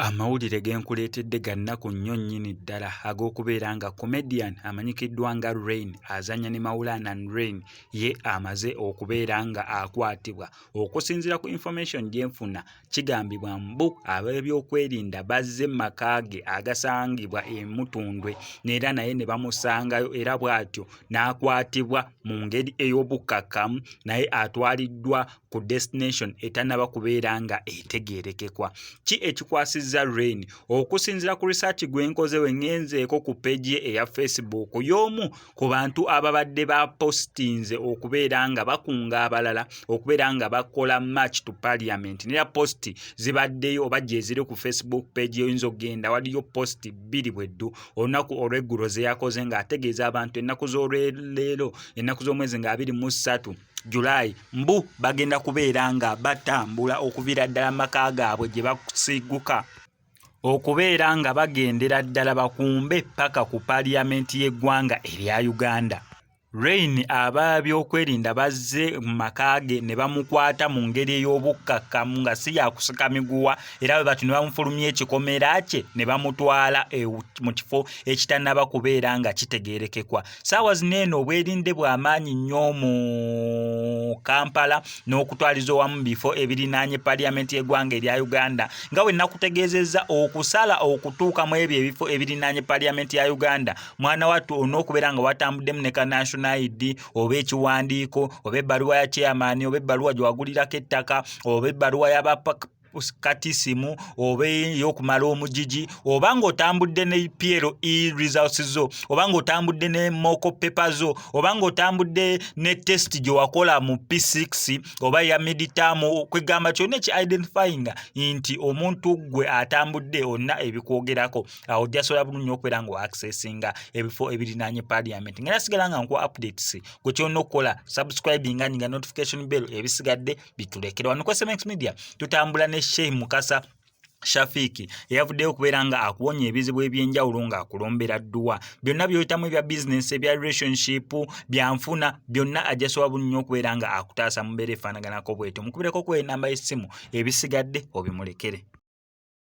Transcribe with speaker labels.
Speaker 1: amawulire ge nkuleetedde ga nnaku nnyo nnyini ddala ag'okubeera nga comedian amanyikiddwa nga rain azanya ne maulanan rain ye amaze okubeera nga akwatibwa okusinziira ku information gye nfuna Kigambibwa mbu ab'ebyokwerinda bazze mu maka ge agasangibwa e Mutundwe era naye ne bamusangayo era bw'atyo n'akwatibwa mu ngeri ey'obukkakkamu naye atwaliddwa ku destination etannaba kubeera nga etegeerekekwa. Ki ekikwasizza Rain? Okusinziira ku research gwe nkoze we ngenzeeko ku peegi ye eya Facebook y'omu ku bantu ababadde bapostinze okubeera nga bakunga abalala okubeera nga bakola match to parliament nera post zibaddeyo oba gyeziri ku facebook page yoyinza okugenda waliyo post bbiri bweddu olunaku olweggulo zeyakoze ng'ategeeza abantu ennaku z'olweleero ennaku z'omwezi nga abiri mu ssatu julayi mbu bagenda kubeera nga batambula okuviira ddala maka gaabwe gye basiiguka okubeera nga bagendera ddala bakumbe ppaka ku paaliyamenti y'eggwanga erya Uganda. Reign abaabyokwerinda bazze mu maka ge ne bamukwata mu ngeri ey'obukkakkamu nga si yakusika miguwa era bwe batyo ne bamufulumya ekikomera kye ne bamutwala mu kifo ekitannaba kubeera nga kitegeerekekwa. saawa zino eno obwerinde bwa maanyi nnyo mu kampala n'okutwaliza owamu bifo ebirinaanye paliyamenti y'eggwanga erya uganda nga bwe nakutegeezezza okusala okutuuka mu ebyo ebifo ebirinaanye paliyamenti ya uganda mwana wattu olina okubeera nga watambuddemu ne kanational id oba ekiwandiiko oba ebbaluwa ya chairman oba ebbaluwa gye wagulirako ettaka oba ebbaluwa yaba kati simu oba eyokumala omujiji oba ng'otambudde ne plo e results zo oba ng'otambudde ne moko pepe zo oba ng'otambudde ne test gye wakola mu p6 oba ya meditamu kwegamba kyona eki identifying nti omuntu gwe atambudde olina ebikwogerako awo jasobola bulunyo okubeera nga oaccessinga ebifo ebirinanye parliament nga nasigala nga nkuwa updates gwe kyona okukola subscribinga ninga notification bell ebisigadde bitulekera wano kwasemex media tutambula ne sheikh mukasa shafiiki eyavuddeyo okubeera nga akuwonya ebizibu ebyenjawulo nga akulombera dduwa byonna byoyitamu ebya bizinensi ebya relationship byanfuna byonna ajasoba bunnyo okubeera nga akutaasa mubeera efaanaganako bwetyo mukubireko ku enamba y'essimu ebisigadde obimulekere